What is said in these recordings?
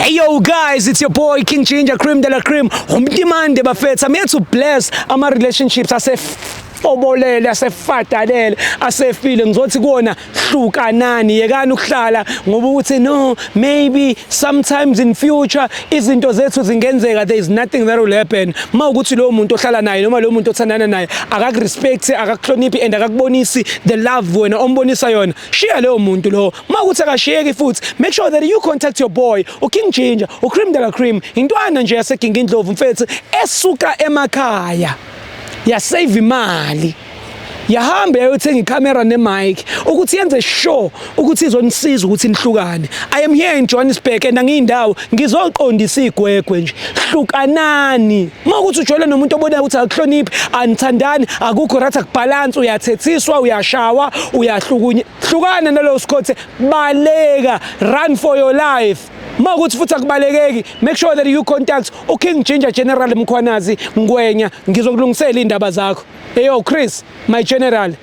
Hey yo guys, it's your boy King Ginger Cream de la Cream. Umdimande bafethu, I'm here to bless ama relationships ase obolele asefadalele asefile ngizothi kuona hlukanani yekani ukuhlala ngoba ukuthi no maybe sometimes in future izinto zethu zingenzeka there is nothing that will happen ma ukuthi lo muntu ohlala naye noma lo muntu othandana naye akakurespect akakuhloniphi and akakubonisi the love wena ombonisa yona Shiya leyo muntu lowo. Uma ukuthi akashiyeki futhi, make sure that you contact your boy, uKing Ginger, uCream de la Cream, intwana nje yaseGinga iNdlovu mfethu esuka emakhaya. Ya save imali. Yahamba yayothenga icamera nemic ukuthi yenze sure ukuthi izonisiza ukuthi nihlukane. I am here in Johannesburg and angiyindawo ngizoqondisa igwegwe nje. Hlukanani. uma ukuthi ujwayele nomuntu obonayo ukuthi akuhloniphi anithandani akukho right akubhalansi uyathethiswa uyashawa uyahlukunye hlukana nalowo sikhothe baleka run for your life uma ukuthi futhi akubalekeki make sure that you contact uking ginger general mkhwanazi ngwenya ngizokulungisela iy'ndaba zakho eyo chris my general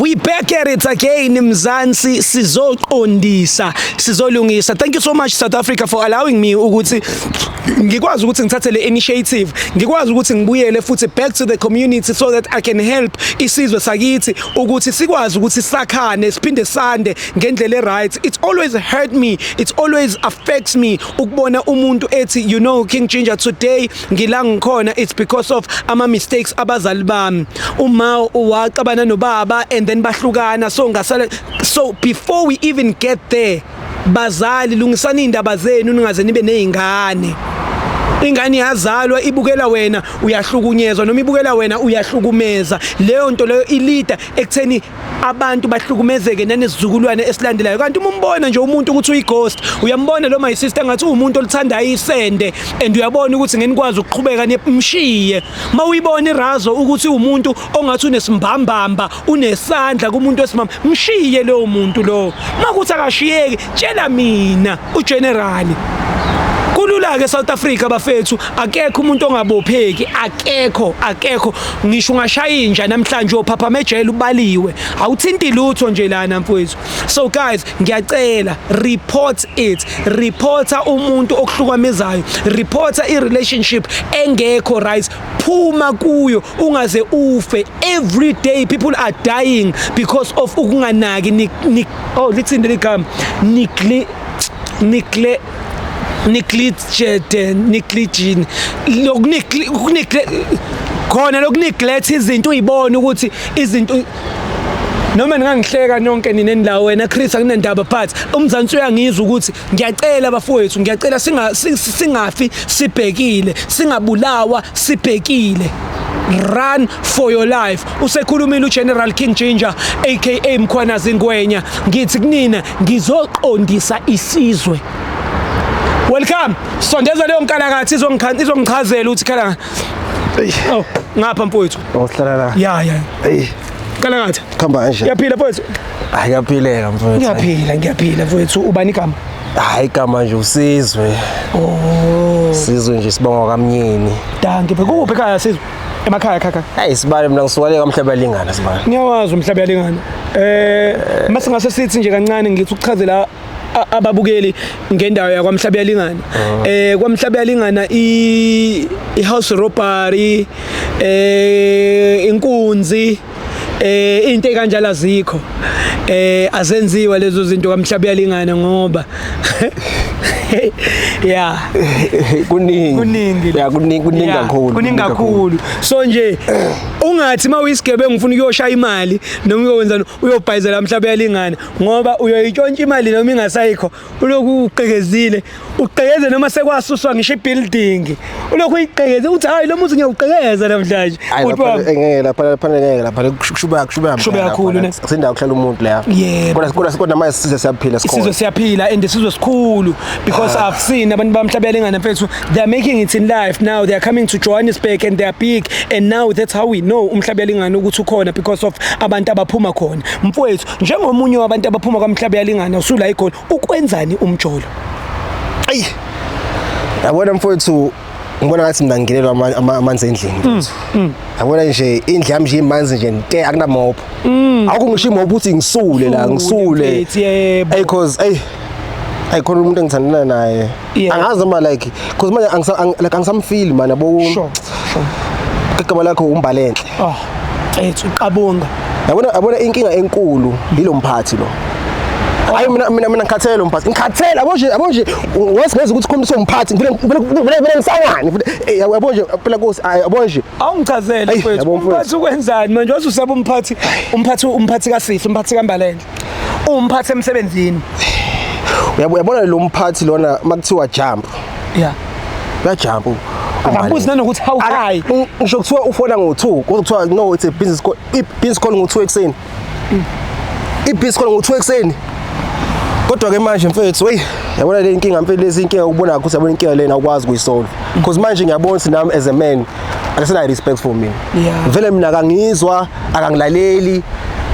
We back at it again Mzansi sizoqondisa sizolungisa thank you so much South Africa for allowing me ukuthi ngikwazi ukuthi ngithathe le initiative ngikwazi ukuthi ngibuyele futhi back to the community so that I can help isizwe sakithi ukuthi sikwazi ukuthi sakhane siphinde sande ngendlela e right it's always hurt me it always affects me ukubona umuntu ethi you know King Ginger today ngila ngikhona it's because of ama mistakes abazali bami uma uwaxabana nobaba and then bahlukana so ngasala so before we even get there bazali lungisani indaba zenu ningaze nibe nezingane ingane yazalwa ibukela wena uyahlukunyezwa noma ibukela wena uyahlukumeza leyo nto leyo ilida ekutheni abantu bahlukumezeke nanesizukulwane esilandelayo kanti uma umbona nje umuntu ukuthi uyighost uyambona lo my sister ngathi uwumuntu olithandayo isende and uyabona ukuthi ngenikwazi ukuqhubeka nimshiye uma uyibona irazo ukuthi umuntu ongathi unesimbambamba unesandla kumuntu wesimama mshiye lowo muntu lowo uma kuthi akashiyeki tshela mina ugenerali kulula-ke south africa bafethu akekho umuntu ongabopheki akekho akekho ngisho ungashaya inja namhlanje uyophapha ejele ubaliwe awuthinti lutho nje lana mfowethu so guys ngiyacela report it reporta umuntu okuhlukamezayo reporta i-relationship engekho right phuma kuyo ungaze ufe every day people are dying because of ukunganaki ni, ni oh listen to the come nikle nikle niklitshete niklijini lokunikle ukunikle khona lokuneglect izinto uyibona ukuthi izinto noma ningangihleka nonke nina endawo wena Chris akunendaba but umzansi uyangizwa ukuthi Ngiyacela bafowethu, ngiyacela singa singafi sibhekile, singabulawa sibhekile. Run for your life. Usekhulumile uGeneral King Ginger aka Mkhwanazi Ngwenya. Ngithi kunina ngizoqondisa isizwe. Welcome. Sondeza leyo nkalakathi izongichazela ukuthi khala. Oh, ngapha mfowethu. Awuhlala la. Yeah, yeah. Hey. Kalakathi. khamba kanje ngiyaphila mfowethu hayi kuyaphileka mfowethu ngiyaphila ngiyaphila mfowethu ubani igama hayi igama nje usizwe oh sizwe nje sibonga kamnyeni danke bekuphi ekhaya sizwe emakhaya khakha hayi sibale mina ngisuwale kamhlaba lingana sibale ngiyawazi umhlaba lingana eh mase ngase sithi nje kancane ngithi ukuchazela ababukeli ngendawo yakwamhlaba yalingana ah. eh kwamhlaba yalingana i house robbery eh inkunzi eh into ekanjalo azikho eh azenziwa lezo zinto kamhlaba uyalingana ngoba yeah kuningi kuningi yeah kuningi kuningi kakhulu kuningi kakhulu so nje ungathi uma uyisigebengu ufuna ukuyoshaya imali noma uyokwenza uyobhayizela mhlawumbe yalingana ngoba uyoyitshontsha imali noma ingasayikho ulokhu uqekezile uqekeze noma sekwasuswa ngisho ibuilding ulokhu uyiqekeze uthi hayi lo muzi ngiyawuqekeza namhlanje ngeke lapha lapha ngeke lapha kushuba kushuba kushuba kakhulu ne sindawo kuhlala umuntu la kodwa kodwa kodwa manje size siyaphila sikhona sizo siyaphila and sizo sikhulu because ah. i've seen abantu bamhlabela ingane mfethu they are making it in life now they are coming to Johannesburg and they are big and now that's how we know umhlabela ingane ukuthi ukhona because of abantu abaphuma khona mfowethu njengomunye wabantu abaphuma kwamhlaba yalingana usula ikhona ukwenzani umjolo ayi yabona mfowethu ngibona ngathi mina ngingenelwa ama- ama- amanzi endlini mfowethu yabona nje indlu yami nje imanzi nje nte akunamobho awukho ngisho imobho ukuthi ngisule la Usule, ngisule mfethu, yebo. ey cause ey ayikhona umuntu engithandana naye Yeah. angazi noma like cause manje angisa- ang- like angisamfili mani yabo Sure. igama lakho umbalenhle Oh. Ethu qabonga. yabona yabona inkinga enkulu yilo mphathi lo hayi mina mina mina ngikhathele lo mphathi ngikhathele yabo nje yabo nje wes ngeza ukuthi khona somphathi ngifuna ngifuna ngifuna ngifuna ngisangane ngifuna- eh, yabo yabo nje phela kosi ay, yabo nje Awungichazele Eyi, mfethu. yabo mfethu. Umphathi ukwenzani manje? Wazi usaba umphathi, umphathi umphathi kaSifi, umphathi kaMbalenhle. umphathi emsebenzini uyabona lo mphathi lona makuthiwa jump yeah uyajump akabuzi nanokuthi how high ngisho kuthiwa ufona ngo-2 kuthiwa no it's a business call i-business call ngo-2 ekuseni mm. i-business call ngo-2 ekuseni kodwa ke manje mfethu wey yabona le nkinga mfethu lezi inkinga ukubona ukuthi yabona inkinga lena ukwazi kuyisolve because manje ngiyabona ukuthi nami as a man akasinayo respect for mina Yeah. vele mina akangizwa akangilaleli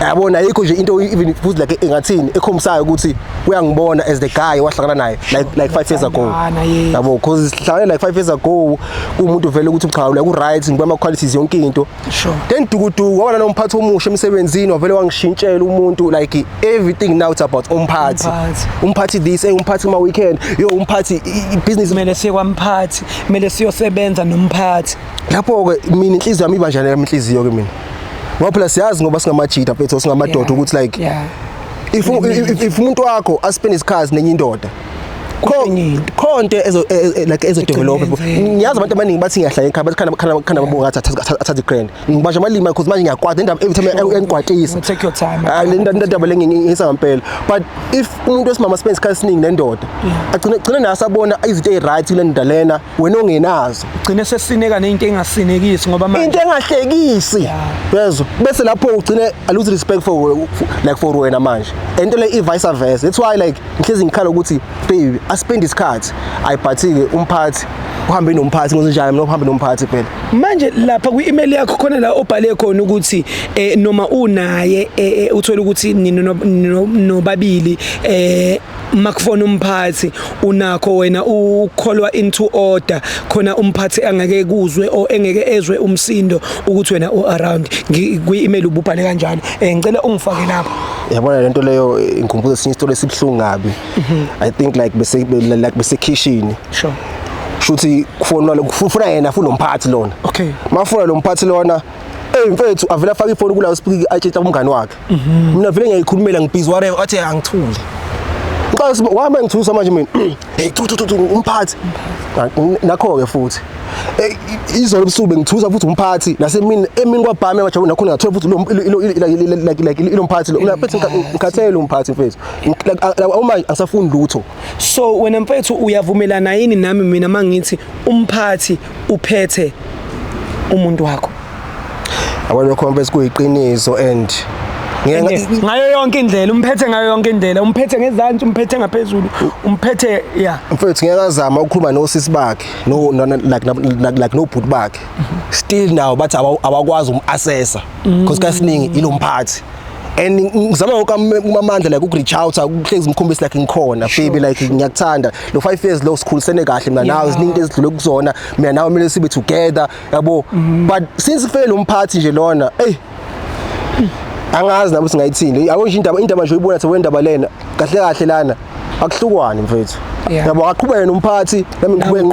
yabona ayikho nje into even futhi like engathini ekhombisayo ukuthi uyangibona as the guy wahlangana naye like like 5 years ago Bathandana, yes. yabo because sihlangane like 5 years ago kumuntu vele ukuthi cha like u right ngiba ama qualities yonke into Sure. then dukuduku wabana nomphathi omusha emsebenzini wavele wangishintshela umuntu like everything now it's about umphathi Umphathi. umphathi this eh umphathi ma weekend yo umphathi i- i- business kumele siye kwamphathi kumele siyosebenza nomphathi lapho-ke mina inhliziyo yami ibanjani yami inhliziyo-ke mina ngoba phela siyazi ngoba singamajida mfethu singamadoda ukuthi like yeah. if u- if- if umuntu wakho aspend isikhathi nenye indoda kho- Enye into. kho nto ezo- e- e- like ezodevelopha Igcine yenzeka. ngiyazi abantu abaningi bathi ngiyahlala ekhaya bathi khanda- khanda khanda babonga ngathi athathe- athathe i-grand ngibasha amalima because manje ngiyakwata indaba every time uyangikwatisa take your time ah, le ndaba le ngiyisa ngempela but if umuntu wesimama spend isikhathi esiningi nendoda agcine agcine naye asabona izinto eziright kule ndoda lena wena ongenazo ugcine sesineka nento engasinekisi ngoba manje into engahlekisi yezwa bese lapho ugcine i lose respect for like for wena manje ento le i vice versa that's why like ngihlezi ngikhala ukuthi baby asipende isikhathi ayibhathike umphathi uhambe nomphathi ngozinjani mina uhambe nomphathi phela manje lapha kwi-email yakho khona la obhale khona ukuthi eh, noma unaye eh, eh, uthole ukuthi nina no- no- nobabili eh makufona umphathi unakho wena ukholwa into order khona umphathi angeke kuzwe o engeke ezwe umsindo ukuthi wena u around Ngi- kwi-email ububhale kanjalo eh ngicela ungifake lapho yabona le nto leyo ingikhumbuza esinye isitolo esibuhlungu kabi mhm. i think like bese like besekhishini sure shuthi kufonwa kufuna yena futhi nomphathi lona okay mafuna lo mphathi lona hey mfethu avela afaka ifoni kula speak atshitha umngani wakhe mhm. mina vele ngiyayikhulumela ngibhizi whatever athi angithule ngicela wama ngithusa manje mina Hey tu tu tu umphathi. Nakho ke futhi. Hey izolo ubusuku bengithusa futhi umphathi nasemini emini kwabhame kwajabula nakhona ngathola futhi lo like like lo mphathi lo mfethu ngikhathele umphathi mfethu. Uma angisafuni lutho. So wena mfethu uyavumelana yini nami mina mangithi umphathi uphethe umuntu wakho abanye complex kuyiqiniso and ngayo yonke indlela umphethe ngayo yonke indlela umphethe ngezantsi umphethe ngaphezulu umphethe ya mfethu ngeke azama ukukhuluma nosisi bakhe no like like no bhuti bakhe still now bathi abakwazi umassessa because kasiningi ilomphathi and ngizama wonke amandla like ukureach out ukuhlezi ngikhombisa like ngikhona baby like ngiyakuthanda lo 5 years lo sikhulisene kahle mina nawe ziningi ezidlule kuzona mina nawe kumele sibe together yabo mm-hmm. but since kufike lo mphathi nje lona hey angazi nabo singayithini yabo nje indaba indaba nje uyibona sewe indaba lena kahle kahle lana akuhlukwane mfethu yabo aqhubeke nomphathi nami ngiqhubeke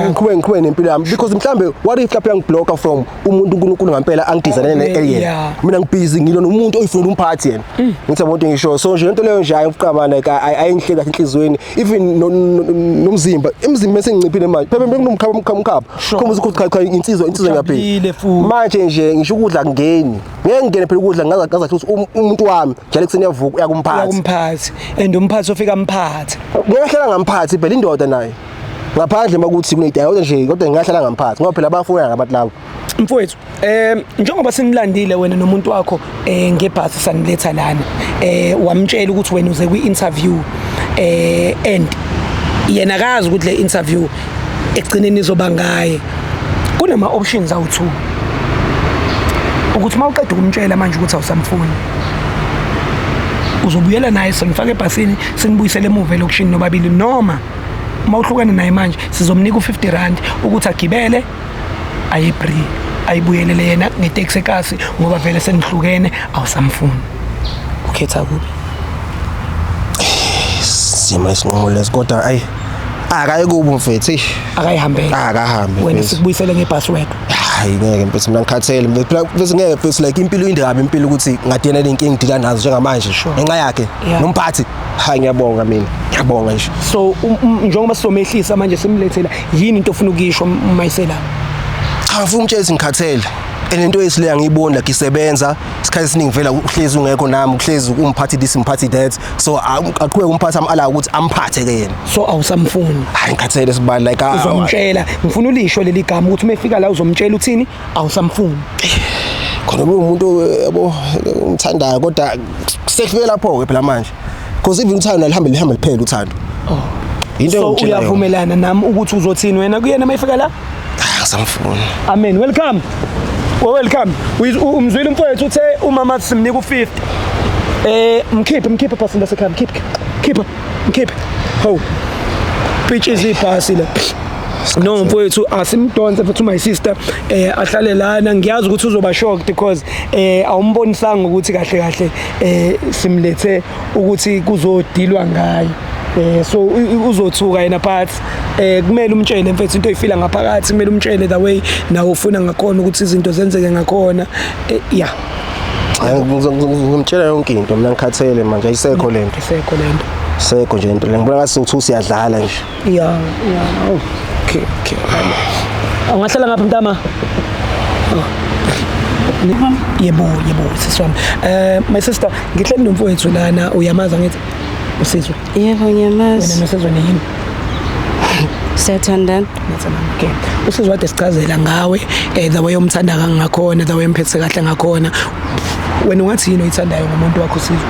ngiqhubeke nempilo yami because mhlambe what if lapha yangiblocka from umuntu uNkulunkulu ngampela angidizane ne alien yeah. mina ngibhizi ngilo nomuntu oyifuna umphathi yena mm. ngithi abantu ngisho so nje into leyo nje ayokuqabana ka ayinhle kahle enhlizweni even nomzimba emzimba esenginciphile manje phela bekunomkhaba umkhaba umkhaba khomba ukuthi cha cha insizwa insizwa ngiyaphila manje nje ngisho ukudla ngeni ngeke ngene phela ukudla ngaza ngaza ukuthi um, umuntu wami njalo ekuseni yavuka uyakumphathi uyakumphathi and umphathi ofika mphathi ngeke hlala ngamphathi phela indoda naye ngaphandle makuthi kunedaya kodwa nje kodwa ngingahlala ngamphathi ngoba phela abafowenu abantu labo mfowethu um njengoba senilandile wena nomuntu wakho um ngebhasi saniletha lana um wamtshela ukuthi wena uze kwi-interview um and yena akazi ukuthi le interview ekugcineni izoba ngaye kunama-options awu-two ukuthi uma uqeda ukumtshela manje ukuthi awusamfuni uzobuyela naye senifake ebhasini sinibuyisele emuva elokishini nobabili noma uma uhlukene naye manje sizomnika u-50 rand ukuthi agibele ayebri ayibuyelele yena ngeteksi ekasi ngoba vele senihlukene awusamfuni ukhetha kubi sima isinqumo lesi kodwa ayi akayikubi mfethu eish akayihambele akahambe wena mfethu. sikubuyisele ngepassword hayi ngeke mfethu mina ngikhathele mfethu Phela mfethu ngeke mfethu like impilo inde kabi impilo ukuthi ngadena nenkingi ngidila nazo njengamanje Sure. ngenxa yakhe Yeah. nomphathi Hayi ngiyabonga mina. Ngiyabonga nje. So um, um, njengoba sizomehlisa manje simlethela yini into ofuna ukuyisho mayisela? Cha ngifuna ukutshela izingikhathele. Enento yesile angiyiboni la ngisebenza isikhathi esiningi vela uhlezi ungekho nami uhlezi umphathi this umphathi that so aqhubeke umphathi amala ukuthi amphathe ke yena so awusamfuni hayi ngikhathele sibali like uzomtshela ngifuna ulisho leli gama ukuthi uma efika la uzomtshela uthini awusamfuni khona umuntu yabo ngimthandayo kodwa sefike lapho ke phela manje because even uthando alihambe lihambe liphele uthando oh. into so uyavumelana nami ukuthi uzothini wena kuyena mayifika la ah, samfuni amen welcome well, welcome umzwile umfowethu uthe umama simnika u50 eh mkhiphe mkhiphe pastor lasekhaya mkhiphe khipha Mkhiphe. Ho. Pitch izibhasi la. no mfowethu asimdonse futhi my sister eh ahlale lana ngiyazi ukuthi uzoba shocked because eh awumbonisanga ukuthi kahle kahle eh simlethe ukuthi kuzodilwa ngaye eh so uzothuka yena but eh kumele umtshele mfethu into oyifila ngaphakathi kumele umtshele the way nawe ufuna ngakhona ukuthi izinto zenzeke ngakhona eh yeah ngimtshela yonke into mina ngikhathele manje ayisekho le nto isekho le nto sekho nje into le ngibona ngathi sokuthi usiyadlala nje ya ya oh, okay okay awungahlala ngapha mntama oh. yebo yebo sisi wami eh my sister ngihleli nomfowethu lana uyamaza ngithi usizwe yebo ngiyamazi wena nosizwe niyini siyathandana okay usizo wade sichazela ngawe eh, the way umthanda kangakhona the way umphethe kahle ngakhona wena ungathi yini oyithandayo ngomuntu wakho usizo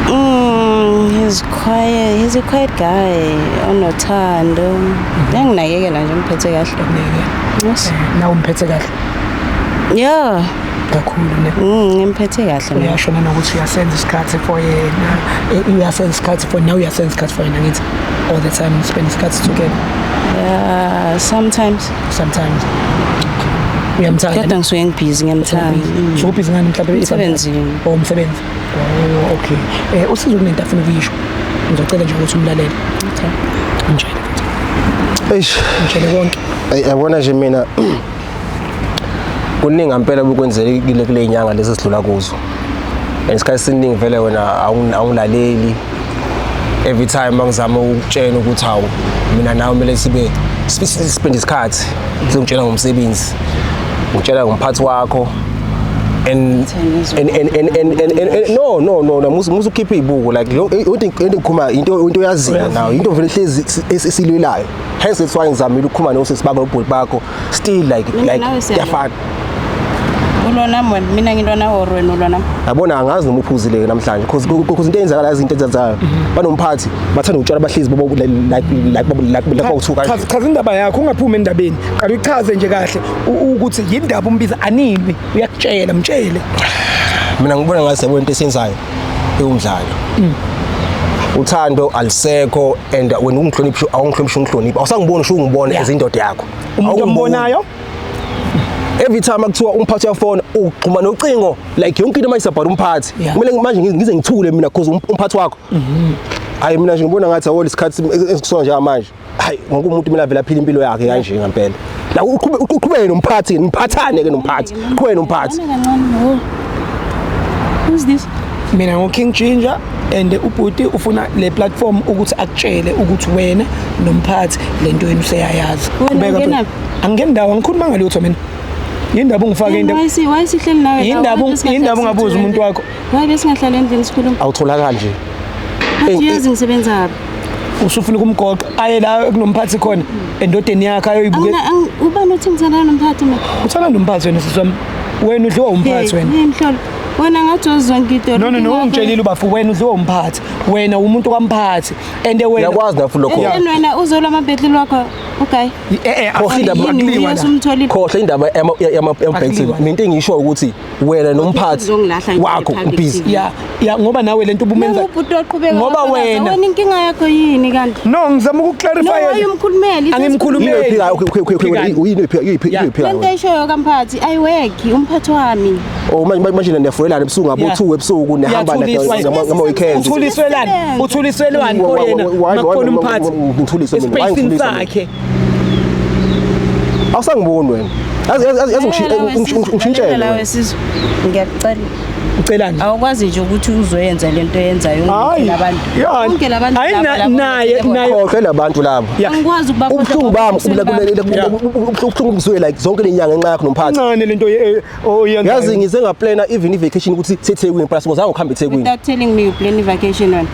Mm, he's quiet. He's a quiet guy. Onothando. Enginakekela nje umphethe kahle. Yes. Nawe umphethe kahle. Yeah. kakhulu ne Mm, ngimphethe kahle mina. uyasho nanokuthi uyasenza isikhathi for yena eh, uyasenza isikhathi for now uyasenza isikhathi for yena ngithi all the time spend isikhathi together Yeah, sometimes sometimes uyamthanda kodwa ngisuke ngibhizi ngiyamthanda. so ubhizi ngani mhlawumbe Umsebenzini. or umsebenzi Oh, okay. Eh usizo kunento afuna ukuyisho. Ngizocela nje ukuthi umlalele. Okay. Ngitshele. Eish, ngitshele konke. Ey yabona nje mina kuningi ampela bukwenzele kule kule inyanga lezi sidlula kuzo. Ngesikhathi siningi vele wena awungilaleli. Every time mangizama ukutshela ukuthi hawu mina nawe kumele sibe siphinde isikhathi sengitshela ngomsebenzi ngitshela ngomphathi wakho and and and and and, and, and, and no no no no musu musu keep ibuku like into into khuma into into yaziyo now into vele hlezi esilwelayo hence that's why ngizamile ukukhuma no sisi bako nobhuti bakho still like like yafana ulona mwen mina ngilona or wena ulona yabona angazi noma uphuzile namhlanje because because into eyenzakala izinto ezenzayo mhm. banomphathi bathanda ukutshela abahlezi bobo like like like like bawuthuka chaza indaba yakho ungaphumi endabeni qala uchaze nje kahle ukuthi yindaba umbiza animi uyakutshela mtshele mina ngibona ngathi yabona into esenzayo iwumdlalo mm. uthando alisekho and wena ungihloniphi awungihloniphi ungihloniphi awusangiboni usho ungibona as indoda yakho umuntu ombonayo every time akuthiwa umphathi uyafona ugxuma nocingo like yonke into mayisabhala umphathi kumele manje ngize ngithule mina because um-, umphathi wakho mm-hmm. hayi mina nje ngibona ngathi awona isikhathi esikusona njengamanje hayi wonke umuntu mina vela phila impilo yakhe kanje ngempela la uqhube uqhubeke nomphathi niphathane ke nomphathi uqhubeke nomphathi who's this mina ngo King Ginger and ubhuti ufuna le platform ukuthi akutshele ukuthi wena nomphathi lento yenu seyayazi qhubeka angingeni ndawo angikhuluma ngalutho mina yindaba ungifake indaba yindaba yindaba ungabuza umuntu wakho Hayi besingahlala endlini sikhuluma. Awutholakali nje. Athi yazi ngisebenzaphi. Usufuna ukumgoqa aye la kunomphathi khona endodeni yakhe ayoyibuke. Ubani uthi ngithanda nomphathi mina? Uthanda nomphathi wena siswami. Wena udliwa umphathi wena. Yini mhlolo? wena ngathi wazizonke idolobha no no no ungitshelile ubafo wena udliwa umphathi wena umuntu kamphathi and wena uyakwazi lapho lokho yena wena uzola amabhetli lwakho okay eh eh khohle indaba akuliwa khohle indaba yama yama yama into engisho ukuthi wena nomphathi wakho ubhizi ya ya ngoba nawe lento ubumenza ubhuti oqhubeka ngoba wena wena inkinga yakho yini kanti no ngizama ukuclarify no ayumkhulumeli angimkhulumeli uyini phika uyiphi phika lento eshoyo kamphathi i work umphathi wami oh manje manje niyafulela ebusuku ngabo 2 ebusuku nihamba ngama weekend uthuliswelani uthuliswelani koyena makhona umphathi ngithuliswe mina ngithuliswe awusangiboni wena ngishintshele lawe sizwe ngiyakucela ucelani awukwazi nje ukuthi uzoyenza lento yenzayo abantu bonke labantu naye naye khohlwe labantu labo angikwazi ukubakhohlwa ubuhlungu bami ubuhlungu kuzwe like zonke lenyanga ngenxa yakho nomphathi ncane lento Oh, yeah, yazi yeah. ngize ngaplana even i-vacation ukuthi sethekwini plus ngozange ukuhamba ethekwini without telling me you plan i-vacation on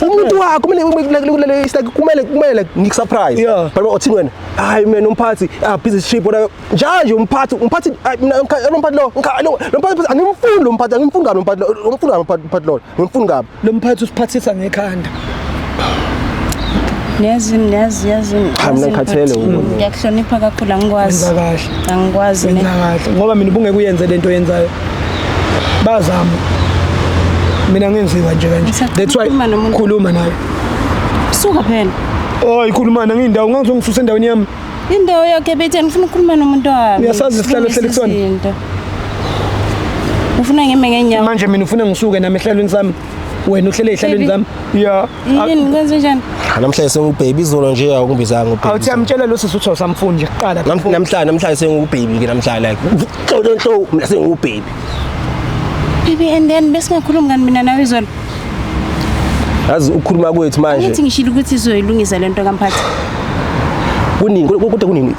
umuntu wakho kumele it's like kumele kumele like ngiku surprise yeah. but uthini wena hayi mina umphathi ah busy trip whatever njalo nje umphathi umphathi mina umphathi lo umphathi angimfuni lo mphathi angimfuni kabi umphathi lo umphathi lo ngimfuni kabi Lo mphathi usiphathisa ngekhanda. Niyazi niyazi yazi. Cha mina ngikhathele ukona. Ngiyakuhlonipha kakhulu angikwazi. Wenza kahle. Angikwazi mina. Wenza kahle ngoba mina ubungeke uyenze lento yenzayo. Bazama. Mina ngenziwa nje kanje. That's why khuluma naye. Suka phela. Oh ikhuluma nangindawo ngangizongisusa endaweni yami. Indawo yakhe bethe ngifuna ukukhuluma nomuntu wami. Uyasazi isihlalo ehleli kusona? Ufuna ngime ngenyawo. Manje mina ufuna ngisuke nami ehlalweni sami. Wena uhlele ehlalweni sami. Yeah. Yini ngikwenze njani? Namhlanje sengubhebi izolo nje awungibizanga ubhebi. Awuthi amtshela lo sisi uthi usamfunje kuqala. Namhlanje namhlanje sengubhebi ke namhlanje like. Xolo nto mina sengubhebi. Baby and then besingakhulumi ngani mina nawe izolo. yazi ukukhuluma kwethu manje ukuthi ngishilo ukuthi izoyilungisa lento kamphathi kunini kodwa kunini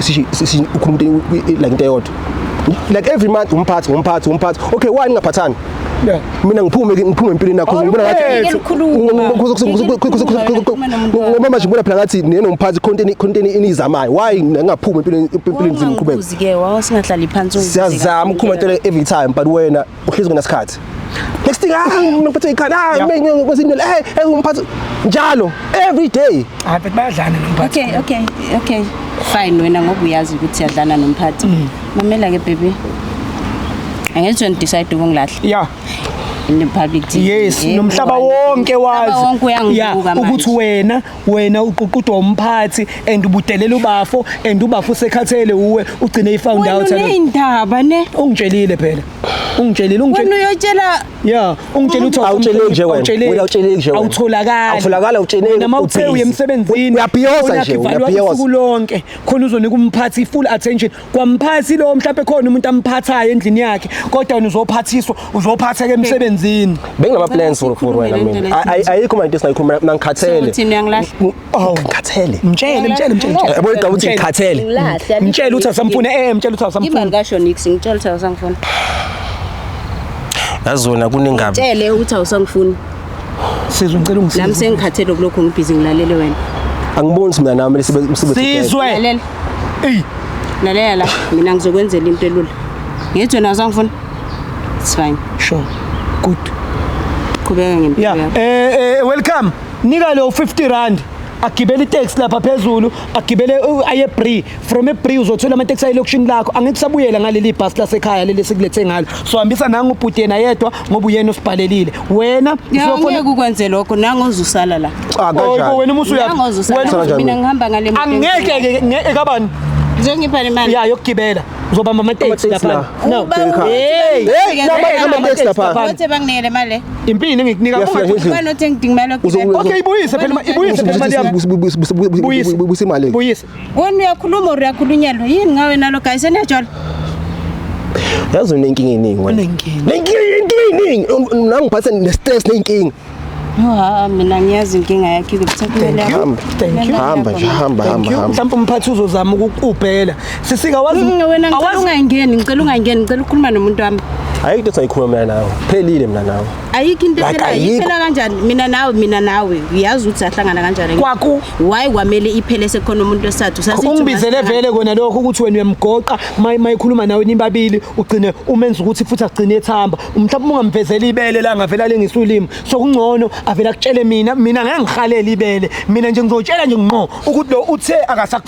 ukhuluma ukuthi like into eyodwa like every month umphathi umphathi umphathi okay why ningaphathani mina ngiphume ngiphume empilweni yakho ngibona ngathi ngoba manje ngibona phela ngathi neno mphathi content content inizamayo why ngingaphumi empilweni empilweni ngiqhubeka uzike wawo singahlali phansi siyazama ukukhuma into every time but wena uhlezi ngesikhathi next thing ah ngiphethe ikhanda ah ngikwezinto eh, eh umphathi njalo every day hayi but bayadlana nomphathi okay okay okay fine wena ngoba uyazi ukuthi yadlana nomphathi mm. mamela ke baby angenzi wena decide ukungilahla yeah in the public TV. Yes, nomhlaba wonke wazi. Nomhlaba wonke uyangibuka manje. Ukuthi wena wena uququdwa umphathi and ubudelela ubafo and ubafo usekhathele uwe ugcine ifound out wena indaba ne ungitshelile phela ungitshelile ungitshelile wena uyotshela yeah ungitshela ukuthi awutshele nje wena wena utshele nje wena awutholakala awutholakala utshele wena uma uthe uye emsebenzini uyabhiyoza nje uyabhiyoza usuku lonke khona uzonika umphathi full attention kwamphathi lo mhlawumbe khona umuntu amphathayo endlini yakhe kodwa wena uzophathiswa uzophatheka emsebenzini benginama plans for for wena mina Ay- ay- ayikho manje singayikhuluma mina ngikhathele Sokuthi uyangilahle. oh ngikhathele mtshele mtshele mtshele mtshele. yabo igaba ukuthi ngikhathele Ngilahle, alikho mtshele ukuthi asamfune eh mtshele ukuthi asamfune Imali kasho nix ngitshela ukuthi awusangifuni. yazi wena kunengabi Tshele ukuthi awusangifuni. sizwe ngicela Nami ungisize sengikhathele kulokho ngibhizi ngilalele wena. angiboni ukuthi mina nami lesi msebenzi Sizwe. Lalela. eyi lalela la mina ngizokwenzela into elula ngithi wena uzangifuna it's fine sure good qhubeka ngempilo ya yakho eh eh welcome nika lo 50 rand agibele itaxi lapha phezulu agibele uh, aye bree from ebree uzothola ama-taxi ayelokishini lakho angikusabuyela ngaleli bhasi lasekhaya leli esikulethe ngalo so hambisa nangu ubhuti yena yedwa ngoba uyena osibhalelile wena ngeke ukwenze lokho nangoze usala la oh, wena umusu uyamina ngihamba ngale angeke ekabani Zongipha imali. Ya yokugibela. Uzobamba ama taxi lapha. No. Hey. Hey, ama taxi lapha. Wathi banginele imali. Impini engikunika kuba nothi ngidingimela. Okay, ibuyise phela, ibuyise phela imali yami. Buyisa imali. Buyisa. Wena uyakhuluma or uyakhulunyelwa yini ngawe nalo guys enejolo? Yazi unenkinga eningi wena. Unenkinga. Nenkinga eningi. Nangiphathe ne-stress nenkinga. Yha mina ngiyazi inkinga yakhe ukuthi kumele hamba thank you hamba nje hamba hamba hamba mhlawumbe umphathi uzozama ukukubhela sisika wazi mm, wena ngicela ungayingeni ngicela ungayingeni ngicela ukukhuluma nomuntu wami hayi into sayikhuluma mina nawe phelile mina nawe ayikho into Like, ephelayo ayikho. iphela kanjani mina nawe mina nawe uyazi ukuthi ahlangana kanjani Kwaku- why kwamele iphele sekhona umuntu wesithathu Sazithi ungibizele ungahlangana- vele kona lokho ukuthi wena uyamgoqa maye mayikhuluma nawe nibabili ugcine umenza ukuthi futhi agcine ethamba mhlawumbe ungamvezeli ibele la ngavela lengisa ulimi so kungcono avele akutshele mina mina ngeke ngihalele ibele mina nje ngizotshela nje ngqo ukuthi lo uthe akasak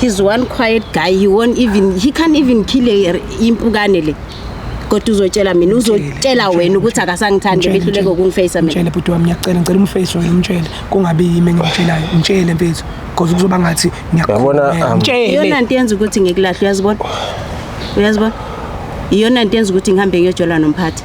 He's one quiet guy. He won't even he can't even kill a impukane le. Kodwa uzotshela mina uzotshela wena ukuthi akasangithandi behluleke ukungifacea mina. Mtshele bhuti wami ngiyacela ngicela umface wena umtshele kungabi yimi engimtshelayo. Mtshele mfethu because kuzoba ngathi ngiyakhona. Um, mtshele. Iyona into yenza ukuthi ngikulahle uyazibona. Uyazibona? Iyona into yenza ukuthi ngihambe ngiyojola nomphathi.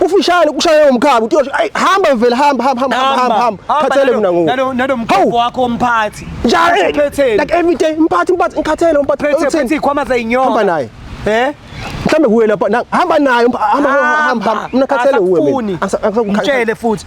Ufishane kushaye umkhaba uthi ay hamba vele hamba hamba hamba hamba hamba khathele mina ngoku. Nalo nalo mkhaba wakho umphathi. Njalo eh, like every day umphathi umphathi ngikhathele umphathi. Phethe phethe ikhwama zayinyonga. Hamba naye. Eh? Mhlambe kuwe lapha hamba naye hamba hamba hamba mina khathele uwe mina. Angikutshele futhi.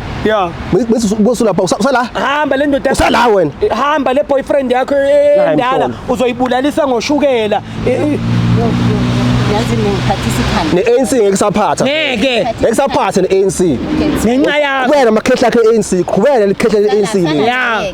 Yeah. Bese usulapha usala. Hamba le ndoda. Usala wena. Eh, hamba le boyfriend yakho eh, eh, endala uzoyibulalisa ngoshukela. Yazi ngikhathi isikhanda. Ne ANC ngeke saphatha. Ngeke. Ngeke saphatha ne ANC. Ngenxa yakho. Wena makhehla ke ANC, qhubeka likhehla le ANC. Yeah.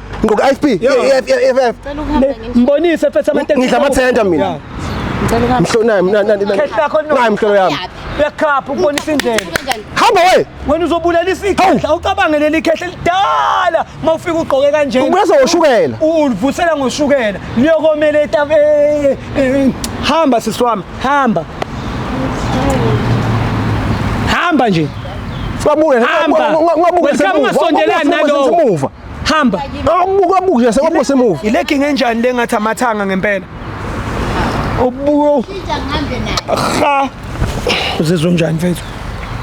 Ngoku IFP, IFF, IFF. Cela ukuhamba nje. Mbonise mfethu amateksi. Ngidla amathenda mina. Yeah. Ngicela ukuhamba. Mhlo nayi mina nani nani. Khehla khona no. Nayi mhlo yami. Uyakhapha ukubonisa indlela. Kanjani? Hamba we. Wena uzobulelisa ikhehla ucabange leli khehla elidala uma ufika ugqoke kanje. Ubuyeza ngoshukela. Ulivusela ngoshukela. Liyokomela etabe. eh, eh, Hamba sisi wami, hamba. Hamba nje. Sibabuke. Hamba. Ungabuke Wena ungasondelani nalowo. Simuva. hamba awubuka ah, buke sekwabuka semuva ile king enjani le ngathi amathanga ngempela ubuyo ha uzizwa njani mfethu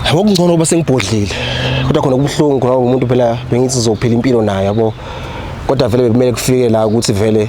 yabo kungcono uba sengibhodlile kodwa khona kubuhlungu khona umuntu phela bengithi zophila impilo naye yabo kodwa vele bekumele kufike la ukuthi vele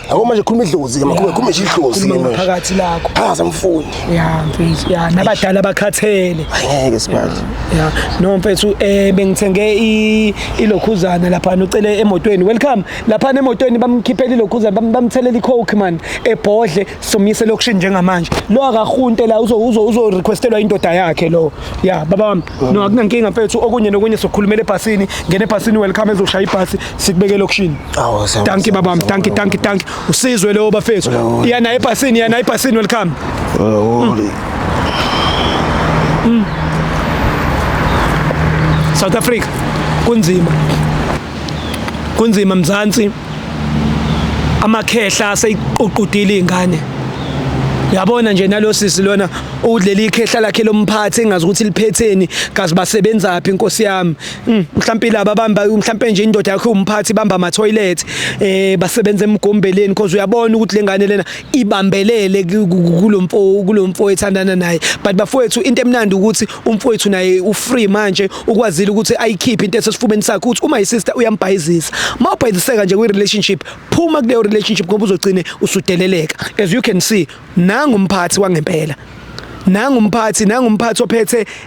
Yabo manje khuluma idlozi ke makhuluma khuluma nje idlozi ke Khuluma manje. ngaphakathi lakho. Ah samfuni. Ya mfethu, ya nabadala bakhathele. Ngeke sibazi. Ya, no mfethu eh bengithenge i ilokhuzana lapha ucele emotweni. Welcome. Lapha emotweni bamkhiphela ilokhuzana bam- bamthelela icoke man ebhodle somyise lokushin njengamanje. Lo akahunte la uzo uzo uzo requestelwa indoda yakhe lo. Ya baba wami. No akunankinga mfethu okunye nokunye sokhulumela ebhasini. Ngene ebhasini welcome ezoshaya ibhasi. sikubeke elokishini Awu, sawu, danki sawu, babam sawu, danki sawu. danki danki usizwe leyo bafethu Awu. iya naye ebhasini iya naye ebhasini welcome Oh, South Africa kunzima kunzima mzansi amakhehla aseyiququdile izingane yabona nje nalosisi lona udlela ikhehla lakhe lomphathi engazi ukuthi liphetheni kazi basebenzaphi inkosi yami Mm, mhlampe laba bamba mhlampe nje indoda yakho umphathi bamba ama toilet eh basebenza emgombeleni because uyabona ukuthi lengane lena ibambelele kulomfo kulomfo ethandana naye but bafowethu into emnandi ukuthi umfowethu naye u free manje ukwazile ukuthi ayikhiphe into esesifubeni sakhe ukuthi uma isister uyambhayizisa mawubhayiziseka nje kwi relationship phuma kuleyo relationship ngoba uzogcine usudeleleka as you can see nangu umphathi wangempela nangu umphathi nangu umphathi ophethe